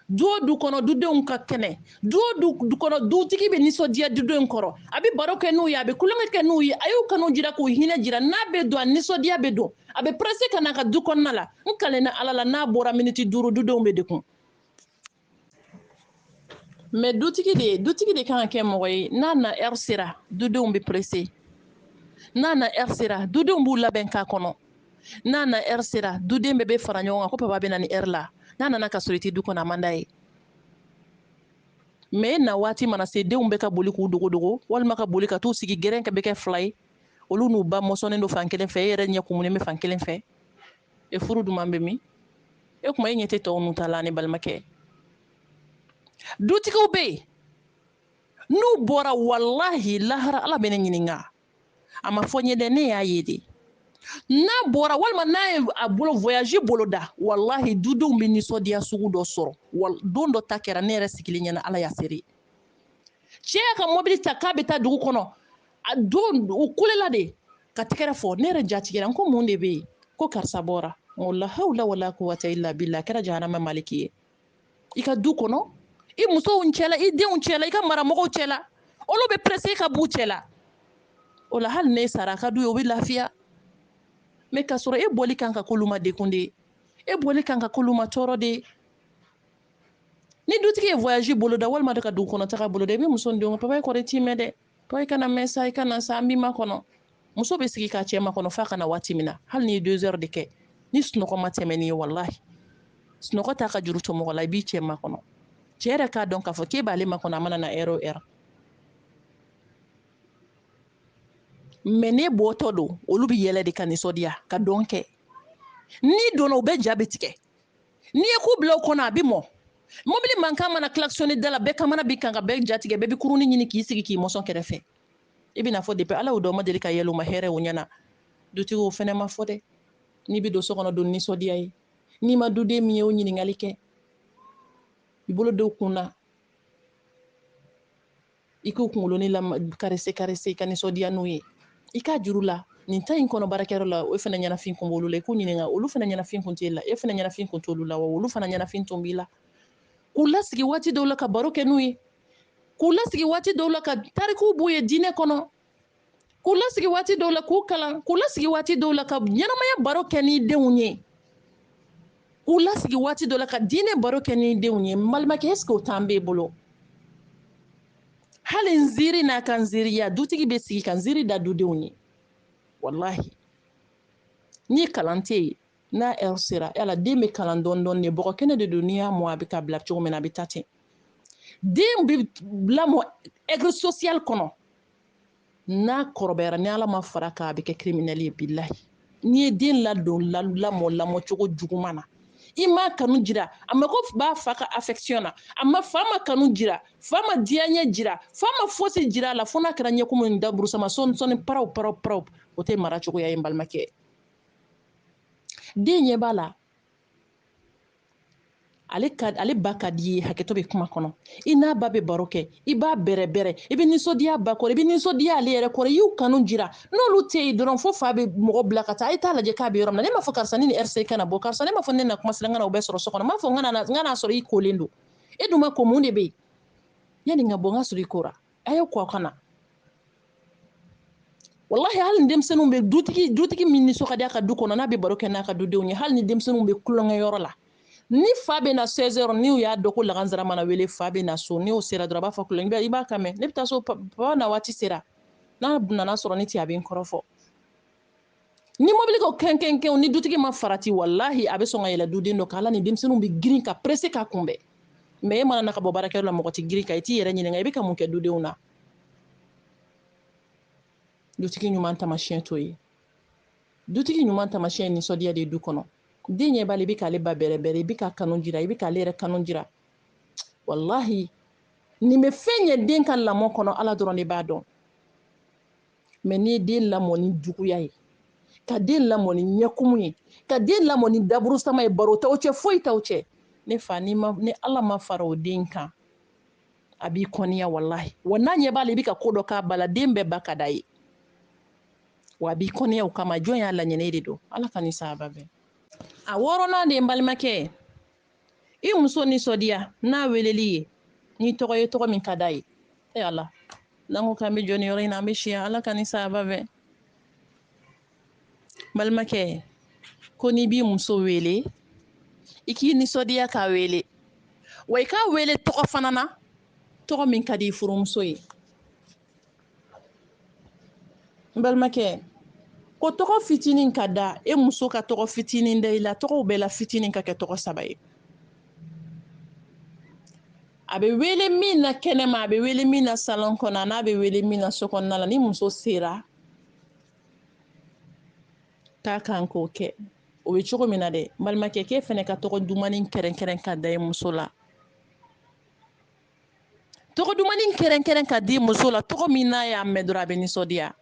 du o du kɔnɔ dudenw ka kɛnɛ du o du kɔnɔ dutigi bɛ nisɔndiya dudenw kɔrɔ a bɛ baro kɛ n'u ye a bɛ tulonkɛ kɛ n'u ye a y'u kanu jira k'u hinɛ jira n'a bɛ don a nisɔndiya bɛ don a bɛ perese ka na a ka du kɔnɔna la n kalenna ala la n'a bɔra miniti duuru dudenw bɛ degun mɛ dutigi de dutigi de kan ka kɛ mɔgɔ ye n'a na ɛri sera dudenw bɛ perese n'a na ɛri sera dudenw b'u labɛn k'a kɔnɔ n'a na ɛri sera duden bɛɛ bɛ fara ɲɔgɔn kan ko papa bɛ na ni ɛri la n'a nana ka sɔrɔ i tɛ du kɔnɔ a man d'a ye mɛ e na waati mana se denw bɛɛ ka boli k'u dogodogo walima ka boli ka t'u sigi gɛrɛn ka bɛ kɛ fila ye olu n'u ba mɔsɔnnen don fan kelen fɛ e yɛrɛ ɲɛ kumunen bɛ fan kelen fɛ e furu duman bɛ min e kuma e ɲɛ tɛ tɔw nu ta la ne balimakɛ dutigiw bɛ yen n'u bɔra walahi lahara ala bɛ ne ɲininka a ma fɔ n ye dɛ ne y'a ye de n'a bɔra walima n'a ye a bolo voyage boloda walahi dudenw bɛ nisɔndiya sugu dɔ sɔrɔ don dɔ ta kɛra ne yɛrɛ sigilen ɲɛna ala y'a seere cɛ y'a ka mɔbili ta k'a bɛ taa dugu kɔnɔ a don u kulela de ka tɛgɛrɛ fɔ ne yɛrɛ jatigɛra n ko mun de bɛ yen ko karisa bɔra n ko lahawla wala quwwata illa billah a kɛra jahanama maliki ye i ka du kɔnɔ i musow cɛla i denw cɛla i ka maramɔgɔw cɛla olu bɛ presse ka b'u cɛla o la hali n'e sara a ka d'u ye o bɛ lafiya mɛ k'a sɔrɔ e bɔli kan ka k'olu ma degun de ye e bɔli kan ka k'olu ma tɔɔrɔ de ye ni dutigi ye voyage boloda walima de ka dugu kɔnɔ taga boloda i bɛ muso ni denw papa e kɔrɔ i t'i mɛn dɛ To i kana mɛn sa i kana sa an b'i makɔnɔ muso bɛ sigi k'a cɛ makɔnɔ f'a ka na waati min na hali n'i ye deux heures de kɛ ni sunɔgɔ ma tɛmɛ n'i ye walahi sunɔgɔ t'a ka juru to mɔgɔ la i b'i cɛ makɔnɔ cɛ yɛrɛ k'a dɔn k'a fɔ k'e b'ale makɔnɔ a mana na heure o heure mɛ n'e bɔtɔ don olu bɛ yɛlɛ de ka nisɔndiya ka dɔn kɛ n'i donna u bɛɛ ja bɛ tigɛ n'i ye ku bila u kɔnɔ a bɛ mɔ mobili mankan mana kilakisɔni da la bɛɛ kamana bɛ gan ka bɛɛ jatigɛ bɛɛ bɛ kurunin ɲini k'i sigi k'i mɔsɔn kɛrɛfɛ i bɛna fɔ depi ala y'u dan u ma deli ka yɛlɛ u ma hɛrɛ o ɲɛna dutigi o fɛnɛ ma fɔ dɛ n'i bɛ don so kɔnɔ don nisɔndiya ye n'i ma duden min ye o ɲininkali kɛ i bolo don u kun na i k'u kunkolonin la karese karese i ka nisɔndiya n'u ye i k'a jir'u la nin tan in kɔnɔ baarakɛyɔrɔ la o fana ɲɛnafin kun b'olu la i k'u ɲininka olu fana ɲɛnafin kun t'e la e fana ɲɛnafin kun t'olu la wa olu fana ɲɛnafin tun b'i la k'u lasigi waati dɔw la ka baro kɛ n'u ye k'u lasigi waati dɔw la ka tarikuw b'u ye diinɛ kɔnɔ k'u lasigi waati dɔw la k'u kalan k'u lasigi waati dɔw la ka ɲɛnamaya baro kɛ ni denw ye k'u lasigi waati dɔ la ka diinɛ baro kɛ ni denw ye balimakɛ ɛseke o tan b'e bolo hali nsiiri n'a ka nsiiriya dutigi bɛ sigi ka nsiiri da dudenw ye walahi ni kalan tɛ yen n'a ɛri sera yala den bɛ kalan dɔɔni dɔɔni den bɔgɔ kɛnɛ de don n'i y'a mɔ a bɛ ka bila cogo min na a bɛ ja ten den bɛ lamɔ ɛgiri sosiyali kɔnɔ n'a kɔrɔbayara ni ala ma far'a kan a bɛ kɛ criminel ye bilahi n'i ye den ladon lamɔ lamɔ cogo juguman na i ma kanu jira a mako b'a fa ka affection na a ma fa ma kanu jira fa ma diyaɲɛ jira fa ma fosi jira a la fo n'a kɛra ɲɛkumu ni daburusama sɔni sɔni paraw paraw paraw o tɛ mara cogoya ye n balimakɛ den ɲɛ b'a la ale ka ale ba ka di ye hakɛto bɛ kuma kɔnɔ i n'a ba bɛ baro kɛ i b'a bɛrɛbɛrɛ i bɛ nisɔndiya ba kɔrɔ i bɛ nisɔndiya ale yɛrɛ kɔrɔ i y'u kanu jira n'olu tɛ yen dɔrɔn fo fa bɛ mɔgɔ bila ka taa a ye t'a lajɛ k'a bɛ yɔrɔ min na ne m'a fɔ karisa ni nin heure se i kana bɔ karisa ne m'a fɔ ne na kuma sera n ka na o bɛɛ sɔrɔ so kɔnɔ m'a fɔ n ka na sɔrɔ i kolen don e dun ma ko mun de bɛ yen yanni n ka bɔ n ka sɔrɔ i kora a ye ko ka na walahi hali ni denmisɛnninw bɛ dutigi dutigi min nisɔn ka di a ka du kɔnɔ n'a bɛ baro kɛ n'a ka dudenw ye hali ni denmisɛnninw bɛ tulonkɛyɔrɔ la ni fa bɛ na 16 heures n'u y'a dɔn ko lagansara mana wele fa bɛ na so n'o sera dɔrɔn a b'a fɔ tulonkɛ i b'a kan mɛn ne bɛ taa so papa na waati sera n'a nana sɔrɔ ne tɛ a bɛ n kɔrɔfɔ ni mobili ko kɛnkɛnkɛn ni dutigi ma farati walahi a bɛ sɔn ka yɛlɛ duden dɔ kan ala ni denmisɛnninw bɛ girin ka pressé k'a kunbɛn mais e mana na ka bɔ baarakɛyɔrɔ la mɔgɔ tɛ girin kan i t'i yɛrɛ ɲininka i bɛ ka mun kɛ dudenw na dutigi ɲuman tamasiyɛn t'o ye dutigi ɲuman tamasiyɛn ye nisɔndiya de ye du kɔnɔ den ɲɛ b'a la i bɛ k'ale ba bɛrɛbɛrɛ i bɛ k'a kanu jira i bɛ k'ale yɛrɛ kanu jira walahi nin bɛ fɛn ɲɛ den ka lamɔ kɔnɔ ala dɔrɔn de b'a dɔn mais n'i ye den lamɔ ni juguya ye ka den lamɔ ni ɲɛkumu ye ka den lamɔ ni daburusama ye baro t'aw cɛ foyi t'aw cɛ ne fa ni ma ni ala ma fara o den kan a b'i kɔniya walahi wa n'a ɲɛ b'a la i bɛ ka ko dɔ k'a ba la den bɛɛ ba ka d'a ye wa a b'i kɔniya o kama jɔn y'a laɲini de don ala k'an ni sawaba bɛn a wɔɔrɔnan de ye n balimakɛ i muso nisɔndiya n'a weleli ye ni tɔgɔ ye tɔgɔ min ka d'a ye e ala n'an ko k'an bɛ jɔ nin yɔrɔ in na an bɛ si yan ala k'an ni sawaba bɛn balimakɛ ko n'i b'i muso wele i k'i nisɔndiya k'a wele wa i k'a wele tɔgɔ fana na tɔgɔ min ka di i furumuso ye n balimakɛ ko tɔgɔ fitinin ka da e muso ka tɔgɔ fitinin da i la tɔgɔw bɛɛ la fitinin ka kɛ tɔgɔ saba ye a bɛ wele min na kɛnɛma a bɛ wele min na salon kɔnɔ an'a bɛ wele min na so kɔnɔna la ni muso sera ka kan k'o kɛ o bɛ cogo min na dɛ balimakɛ k'e fɛnɛ ka tɔgɔ dumannin kɛrɛnkɛrɛn ka da i muso la tɔgɔ dumani kɛrɛnkɛrɛn ka di muso la tɔgɔ min n'a y'a mɛn dɔrɔn a bɛ nisɔndiya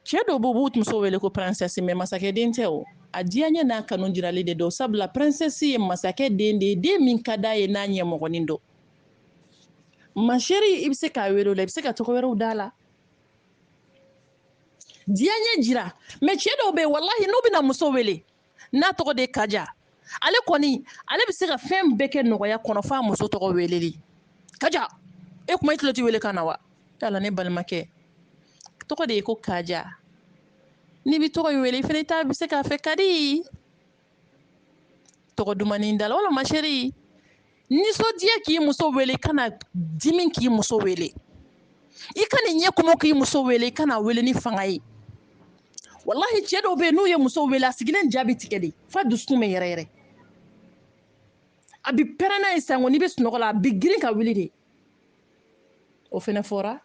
cɛ dɔw b'u b'u muso wele ko princesse mɛ masakɛ den tɛ o a diyaɲɛ n'a kanu jirali de don sabula princesse ye masakɛ den de ye den min ka d'a ye n'a ɲɛmɔgɔnin don ma chérie i bɛ se k'a wele o la i bɛ se ka tɔgɔ wɛrɛw d'a la diyaɲɛ jira mɛ cɛ dɔw bɛ yen walahi n'u bɛna muso wele n'a tɔgɔ de kaja ale kɔni ale bɛ se ka fɛn bɛɛ kɛ nɔgɔya kɔnɔ f'a muso tɔgɔ weleli kaja e kuma i tulo tɛ wele kan na wa yala ne balimakɛ tɔgɔ de ye ko kaja n'i bɛ tɔgɔ in wele i fana ta bɛ se k'a fɛ kadi tɔgɔ dumannin d'a la wala ma chérie nisɔndiya k'i muso wele kana dimi k'i muso wele i kan'i ɲɛ kumu k'i muso wele i kan'a wele ni fanga ye walahi cɛ dɔw bɛ yen n'u ye muso wele a sigilen ja bi tigɛ de f'a dusukun bɛ yɛrɛ yɛrɛ a bi pɛrɛn n'a ye sango n'i bɛ sunɔgɔ la a bi girin ka wuli de o fɛnɛ fɔra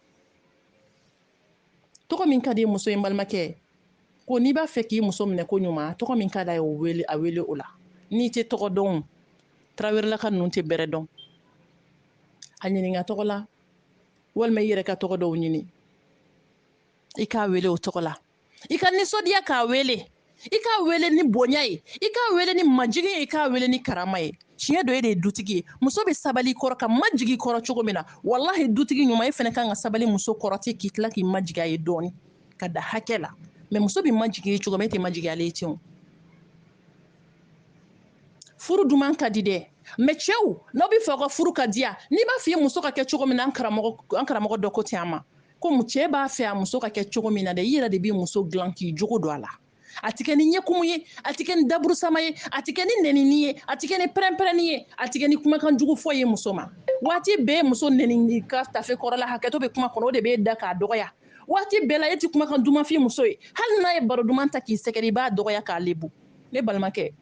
tɔgɔ min ka di muso ye n balimakɛ ko n'i b'a fɛ k'i muso minɛ ko ɲuman tɔgɔ min ka d'a ye o wele a wele o la n'i tɛ tɔgɔ dɔn tarawelelaka ninnu tɛ bɛrɛ dɔn a ɲininka tɔgɔ la walima i yɛrɛ ka tɔgɔ dɔw ɲini i k'a wele o tɔgɔ la i ka nisɔndiya k'a wele i k'a wele ni bonya ye i k'a wele ni majigin ye i k'a wele ni karama ye tiɲɛ don e de ye dutigi ye muso bɛ sabali i kɔrɔ ka majigi i kɔrɔ cogo min na walahi dutigi ɲuman e fana kan ka sabali muso kɔrɔ ten k'i tila k'i majigi a ye dɔɔni k'a da hakɛ la mɛ muso bɛ majigi i ye cogo min e tɛ majigi ale ye ten furu duman ka di dɛ mɛ cɛw n'aw b'a fɛ aw ka furu ka diya n'i b'a fɛ i muso ka kɛ cogo min na an karamɔgɔ dɔ ko ten a ma komi cɛ b'a fɛ a muso ka kɛ cogo min na dɛ i yɛrɛ de b'i muso dilan k'i jogo don a la a tɛ kɛ ni ɲɛkumu ye a tɛ kɛ ni daburusama ye a tɛ kɛ ni nɛnini ye a tɛ kɛ ni pɛrɛnpɛrɛnni ye a tɛ kɛ ni kumakan jugu fɔ ye muso ma waati bɛɛ muso nɛnini ka tafe kɔrɔla hakɛto bɛ kuma kɔnɔ o de b'e da k'a dɔgɔya waati bɛɛ la e tɛ kumakan duman f'i muso ye hali n'a ye baro duman ta k'i sɛgɛrɛ i b'a dɔgɔya k'a lebu ne balimakɛ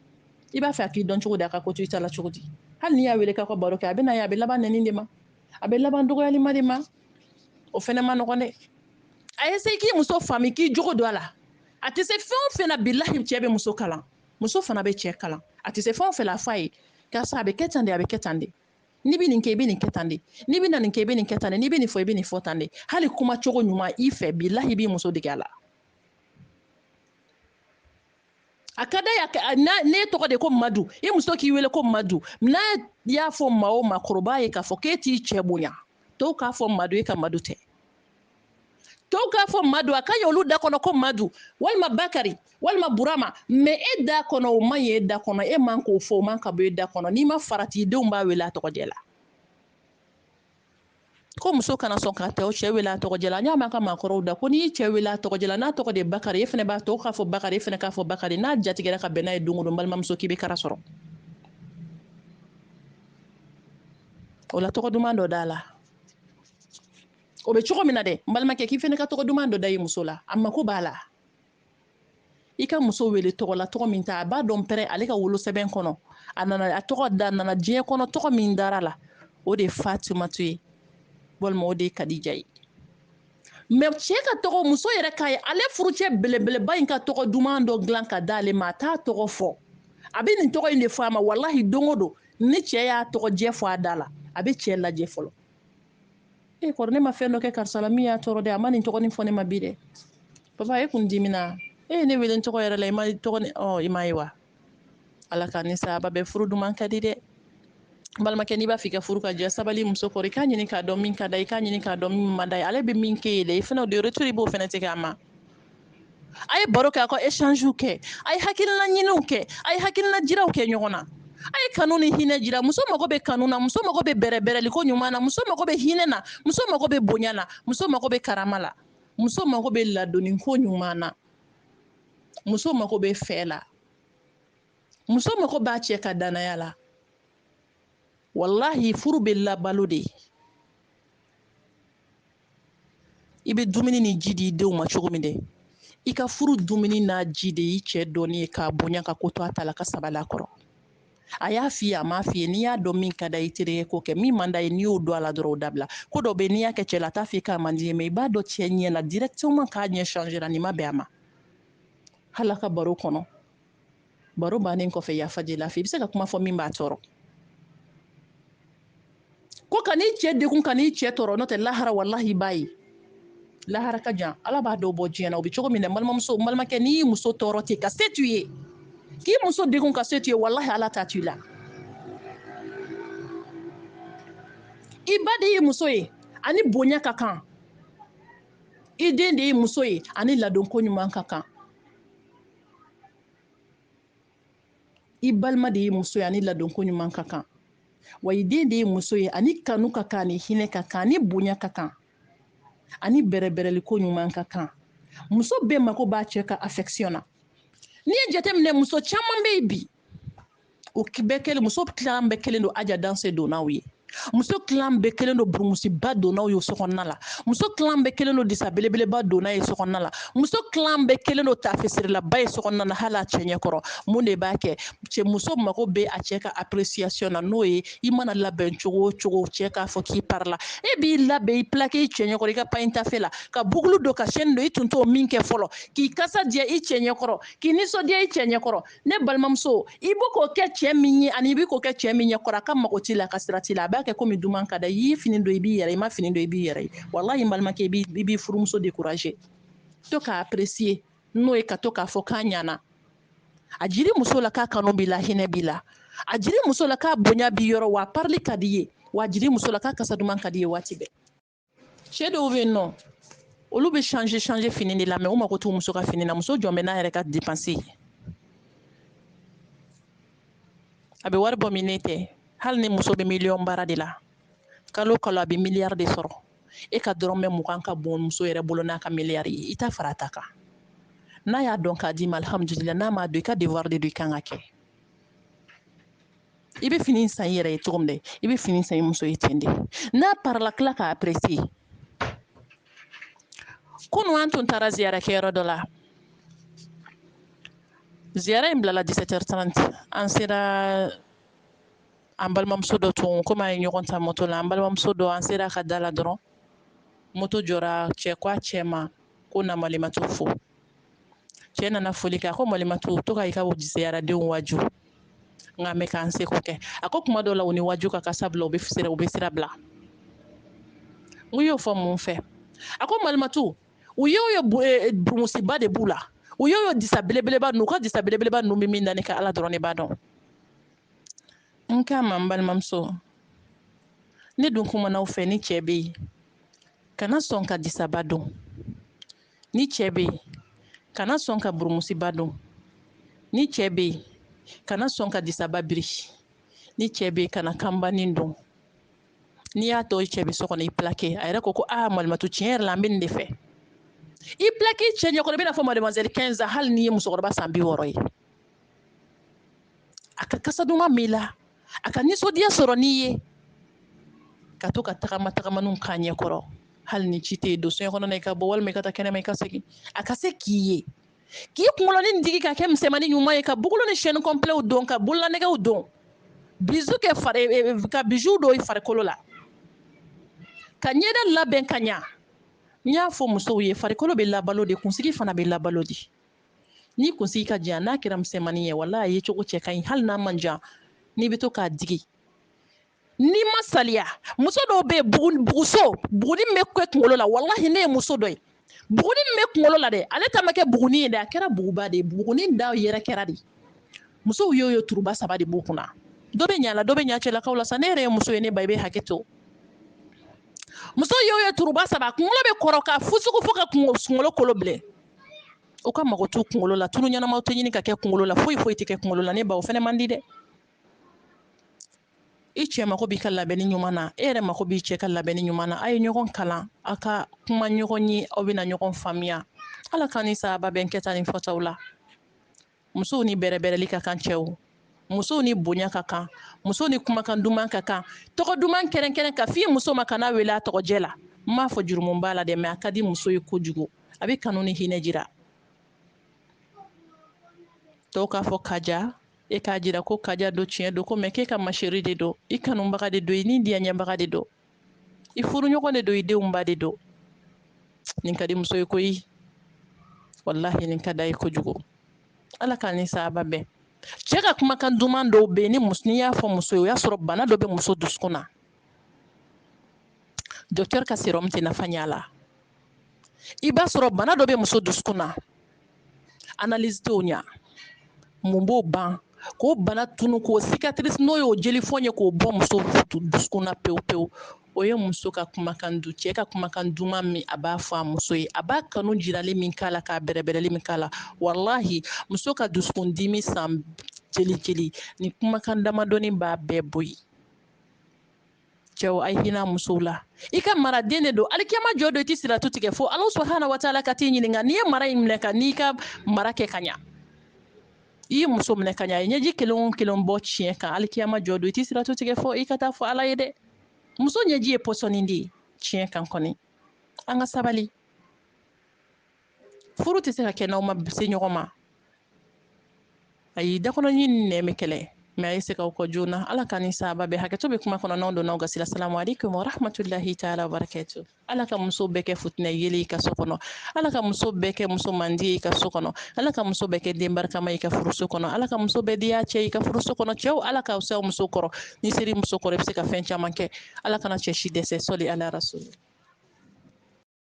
i b'a fɛ a k'i dɔn cogo di a ka ko to i ta la cogo di hali n'i y'a wele k'aw ka baro kɛ a bɛ na ye a bɛ laban nɛni de ma a bɛ laban dɔgɔyalima de ma o fɛnɛ man nɔgɔn dɛ a ye se k'i muso faami k'i jogo don a la a tɛ se fɛn o fɛn na bilahi cɛ bɛ muso kalan muso fana bɛ cɛ kalan a tɛ se fɛn o fɛn la a f'a ye karisa a bɛ kɛ tan de a bɛ kɛ tan de n'i bɛ nin kɛ i bɛ nin kɛ tan de n'i bɛ na nin kɛ i bɛ nin kɛ tan de n'i bɛ nin fɔ i bɛ nin fɔ tan de hali kuma cogo ɲuman i fɛ bilahi i b'i muso dege a la a ka d'a ye n'e tɔgɔ de ko madu i muso k'i wele ko madu n'a y'a fɔ maa o maakɔrɔba ye k'a fɔ k'e t'i cɛ bonya tɔw k'a fɔ madu e ka madu tɛ tɔw k'a fɔ madu a ka ɲi olu da kɔnɔ ko madu walima bakari walima burama mɛ e da kɔnɔ o man ɲi e da kɔnɔ e man k'o fɔ o man ka bɔ e da kɔnɔ n'i ma farati denw b'a wele a tɔgɔjɛ la ko muso kana sɔn ka tɛ o cɛ wele a tɔgɔjɛ la an y'a mɛn an ka maakɔrɔw da ko n'i y'i cɛ wele a tɔgɔjɛ la n'a tɔgɔ de bakari e fana b'a tɔw k'a fɔ bakari e fana k'a fɔ bakari n'a jatigɛra ka bɛn n'a ye don o don balimamuso k'i bɛ kara sɔrɔ o la tɔgɔ duman dɔ d'a la o bɛ cogo min na dɛ n balimakɛ k'i fana ka tɔgɔ duman dɔ da i muso la a mako b'a la i ka muso wele tɔgɔ la tɔgɔ min ta a b'a dɔn pɛrɛ ale ka wolosɛbɛn kɔnɔ a nana a tɔgɔ da nana diɲɛ kɔnɔ tɔgɔ min dar'a la o de ye fatumatu ye walima o de ye kadija ye mɛ cɛ ka tɔgɔ muso yɛrɛ k'a ye ale furucɛ belebeleba in ka tɔgɔ duman dɔ dilan ka d'ale ma a t'a tɔgɔ fɔ a bɛ nin tɔgɔ in de fɔ a ma walahi don o don ni cɛ y'a tɔgɔjɛ fɔ a da la a bɛ cɛ lajɛ fɔlɔ e eh, kori ne ma fɛn dɔ kɛ karisa la min y'a tɔɔrɔ dɛ a ma nin tɔgɔ nin fɔ ne ma bi dɛ papa e kun dimina e ye ne wele n tɔgɔ yɛrɛ la i ma tɔgɔ nin fɔ i m'a ye wa ala ka ni saba bɛɛ furu duman ka di dɛ balimakɛ n'i b'a fɛ i ka furu ka diya sabali muso kɔrɔ i k'a ɲini k'a dɔn min ka d'a ye i k'a ɲini k'a dɔn min man d'a ye ale bɛ min k'e ye dɛ i fana o de retour i b'o fana tigɛ a ma a ye baro kɛ a ka échangew kɛ a ye hakilina ɲiniw kɛ a ye hakilina jiraw kɛ ɲɔgɔn na a ye kanu ni hinɛ jira muso mago bɛ kanu na muso mago bɛ bɛrɛbɛrɛli ko ɲuman na muso mago bɛ hinɛ na muso mago bɛ bonya na muso mago bɛ karama la muso mago bɛ ladonni ko ɲuman na muso mago bɛ fɛ la muso mago b'a cɛ ka dannaya la walahi furu bɛ labalo de i bɛ dumuni ni ji di i denw ma cogo min dɛ i ka furu dumuni n'a ji de y'i cɛ dɔnni ye k'a bonya ka ko to a ta la ka sabali a kɔrɔ a y'a f'i ye a m'a f'i ye n'i y'a dɔn min ka d'a ye i terikɛ k'o kɛ min man d'a ye n'i y'o dɔn a la dɔrɔn o dabila ko dɔ bɛ yen n'i y'a kɛ cɛ la a t'a f'i ye k'a man di ye mɛ i b'a dɔn cɛ ɲɛ la directement k'a ɲɛ changera nin ma bɛn a ma hali a ka baro kɔnɔ baro bannen kɔfɛ yafa deli a fɛ i bɛ se ka kuma fɔ min b'a tɔɔrɔ ko kan'i cɛ degun kan'i cɛ tɔɔrɔ n'o tɛ lahara walahi i b'a ye lahara ka jan ala b'a dɔw bɔ diɲɛ na o bɛ cogo min na balimamuso balimakɛ n'i y'i muso tɔɔrɔ ten ka se t'u ye k'i muso degun ka se t'u ye walahi ala t'a to i la i ba de y'i muso ye a ni bonya ka kan i den de y'i muso ye a ni ladon ko ɲuman ka kan i balima de y'i muso ye ani ladonko ɲuman ka kan wa i den de y'i muso ye ani kanu ka kan ani hinɛ ka kan ani bonya ka kan ani bɛrɛbɛrɛliko ɲuman ka kan muso bɛɛ mago b'a cɛ ka affection na n'i ye jateminɛ muso caman bɛ yen bi o bɛɛ kɛlen muso tilan bɛɛ kɛlen don aja danse donnaw ye muso tilan bɛɛ kɛlen don burumusiba donnaw ye so kɔnɔna la muso tilan bɛɛ kɛlen don disa belebeleba donna ye so kɔnɔna la muso tilan bɛɛ kɛlen don tafesirilaba ye so kɔnɔna na hali a cɛ ɲɛkɔrɔ mun de b'a kɛ cɛ muso mago bɛ a cɛ ka appréciation na n'o ye i mana labɛn cogo o cogo cɛ k'a fɔ k'i parila e b'i labɛn i plaqué i cɛ ɲɛkɔrɔ i ka pagne tafe la ka boucle don ka chaîne don i tun t'o min kɛ fɔlɔ k'i kasa diya i cɛ ɲɛkɔrɔ k'i nisɔndiya i cɛ ɲɛkɔrɔ ne balimamuso i bɛ k'o kɛ cɛ min ye ani i bɛ k'o kɛ cɛ min ɲɛkɔrɔ a ka mago t'i la a ka sira t'i la a b'a kɛ komi duman ka da i y'i fini don i b'i yɛrɛ ye i ma fini don i b'i yɛrɛ ye walahi n balimakɛ i b'i furumuso décourager to k'a apprécier n'o ye ka to k'a fɔ k'a ɲana a jiri muso la k'a kanu b'i la hinɛ b'i la a jiri muso la k'a bonya b'i yɔrɔ wa a parili ka d'i ye wa a jiri muso la k'a kasa duman ka d'i ye waati bɛɛ cɛ dɔw bɛ yen nɔ olu bɛ change change fini de la mais u mago t'u muso ka fini na muso jɔn bɛ n'a yɛrɛ ka dépense ye a bɛ wari bɔ min ne tɛ hali ni muso bɛ miliyɔn baara de la kalo kalo a bɛ miliyari de sɔrɔ e ka dɔrɔmɛ mugan ka bon muso yɛrɛ bolo n'a ka miliyari ye i ta fara a ta kan n'a y'a dɔn k'a d'i ma alihamudulila n'a m'a dɔn i ka devoir de don i kan k'a kɛ i bɛ fini san i yɛrɛ ye cogo min dɛ i bɛ fini san i muso ye ten de n'a parila tila k'a apprécier kunu an tun taara ziyara kɛyɔrɔ dɔ la ziyara in bilala 17h30 an sera an balimamuso dɔ tun komi a ye ɲɔgɔn ta moto la an balimamuso dɔ an sera a ka da la dɔrɔn moto jɔra cɛ ko a cɛ ma ko na malimatu fo cɛ nana foli kɛ a ko malimatu to ka i ka ziyaradenw waju n k'an bɛ k'an seko kɛ a ko kuma dɔw la u ni waju ka kan sabula u bɛ sira bila n k'i y'o fɔ mun fɛ a ko malimatu u ye o ye eh, burumusiba de b'u la u ye o ye disa belebeleba ninnu u ka disa belebeleba ninnu bɛ min na ne ka ala dɔrɔn de b'a dɔn n k'a ma n balimamuso ne dun kumana aw fɛ ni cɛ bɛ yen kana sɔn ka disaba don ni cɛ bɛ yen kana sɔn ka burumusiba don ni cɛ bɛ yen kana sɔn ka disaba biri ni cɛ bɛ yen kana kanbanin don n'i y'a tɔ cɛ bɛ so kɔnɔ i plaqué a yɛrɛ ko ko aa malimatu tiɲɛ yɛrɛ la n bɛ nin de fɛ i plaqué cɛ ɲɛkɔrɔ i bɛna a fɔ mademoiselle 15 ans hali n'i ye musokɔrɔba san bi wɔɔrɔ ye a ka kasa duman b'i la a ka nisɔndiya sɔrɔ n'i ye ka to ka tagama tagamaniw k'a ɲɛ kɔrɔ hali ni ci tɛ yen don soɲɛ kɔnɔna i ka bɔ walima i ka taa kɛnɛma i ka segin a ka se k'i ye k'i kunkolonin digi ka kɛ misɛnmani ɲuman ye ka bugulu ni sɛni kɔnpilɛw don ka bololanɛgɛw don bizu kɛ fari e, e, ka bizu don i farikolo la ka ɲɛda labɛn ka ɲa n y'a fɔ musow ye farikolo bɛ labalo de kunsigi fana bɛ labalo de n'i kunsigi ka jan n'a kɛra misɛnmanin ye walahi a yecogo cɛ ka ɲi hali n'a man jan n'i bɛ to k'a digi n'i ma saliya muso dɔw bɛ yen buguso buguni bɛ kɛ kunkolo la walahi ne ye muso dɔ ye buguni bɛ kunkolo la dɛ ale ta ma kɛ buguni ye dɛ a kɛra buguba de ye buguni da yɛrɛ kɛra de musow y'o ye turuba saba de b'u kunna dɔ bɛ ɲa la dɔ bɛ ɲa cɛlakaw la sa ne yɛrɛ ye muso ye ne ba i bɛ hakɛ to muso y'o ye turuba saba kunkolo bɛ kɔrɔ ka fusugu fo ka kunkolo kolo bilen u ka mago t'u kunkolo la tulu ɲɛnamaw tɛ ɲini ka kɛ kunkolo la foyi foyi tɛ kɛ kunkolo la ne ba o fɛnɛ man di dɛ i cɛ mako b'i ka labɛnni ɲuman na e yɛrɛ mako b'i cɛ ka labɛnni ɲuman na a ye ɲɔgɔn kalan a ka kuma ɲɔgɔn ye aw bɛna ɲɔgɔn faamuya ala k'an ni sawaba bɛn kɛta ni fɔtaw la musow ni bɛrɛbɛrɛli ka kan cɛw musow ni bonya ka kan musow ni kumakan duman ka kan tɔgɔ duman kɛrɛnkɛrɛn ka f'i muso ma kana wele a tɔgɔjɛ la n m'a fɔ jurumu b'a la dɛ mɛ a ka di muso ye kojugu a bɛ kanu ni hinɛ jira tɔw k'a fɔ kaja e k'a jira ko kaja don tiɲɛ don ko mɛ k'e ka ma chérie de don i kanubaga de don i ni diyaɲɛbaga de don i furuɲɔgɔn de don i denw ba de don nin ka di muso ye koyi walahi nin ka d'a ye kojugu ala k'an ni sawaba bɛn cɛ ka kumakan duman dɔw bɛ yen ni muso n'i y'a fɔ muso ye o y'a sɔrɔ bana dɔ bɛ muso dusukun na docteur ka serɔmu tɛ nafa ɲɛ a la i b'a sɔrɔ bana dɔ bɛ muso dusukun na analyse t'o ɲa mun b'o ban k'o bana tunu k'o cicatrice n'o y'o jelifɔn ye k'o bɔ muso dusukun na pewu pewu o ye muso ka kumakan du cɛ ka kumakan duman min a b'a fɔ a muso ye a b'a kanu jirali min k'a la k'a bɛrɛbɛrɛli min k'a la walahi muso ka dusukun dimi san jeli jeli ni kumakan damadɔni b'a bɛɛ bɔ yen cɛw a ye hinɛ musow la i ka maraden de don alikiyama jɔ don i tɛ siratu tigɛ fo ala subahana wa taala ka t'i ɲininka n'i ye mara in minɛ ka n'i ka mara kɛ ka ɲa i ye muso minɛ ka ɲa a ye ɲɛji kelen o kelen bɔ tiɲɛ kan alikiyama jɔ don i tɛ siratu tigɛ fo i ka t'a fɔ ala ye dɛ muso ɲɛji ye pɔsɔni de ye tiɲɛ kan kɔni an ka sabali furu tɛ se ka kɛ n'aw ma se ɲɔgɔn ma ayi dakɔnɔɲi ni nɛn bɛ kɛlɛ mɛ a ye se k'aw kɔ joona ala ka ni saba bɛɛ hakɛto bɛ kuma kɔnɔ n donna aw gasi la salamu aleykum warahmatulahi taala wabarakatu ala ka muso bɛɛ kɛ fitinɛ yeelen i ka so kɔnɔ ala ka muso bɛɛ kɛ muso mandi ye i ka so kɔnɔ ala ka muso bɛɛ kɛ den barikama i ka furuso kɔnɔ ala ka muso bɛɛ diya cɛ i ka furuso kɔnɔ cɛw ala k'aw se aw muso kɔrɔ n'i sera i muso kɔrɔ i bɛ se ka fɛn caman kɛ ala kana cɛ si dɛsɛ sɔli ala rasuli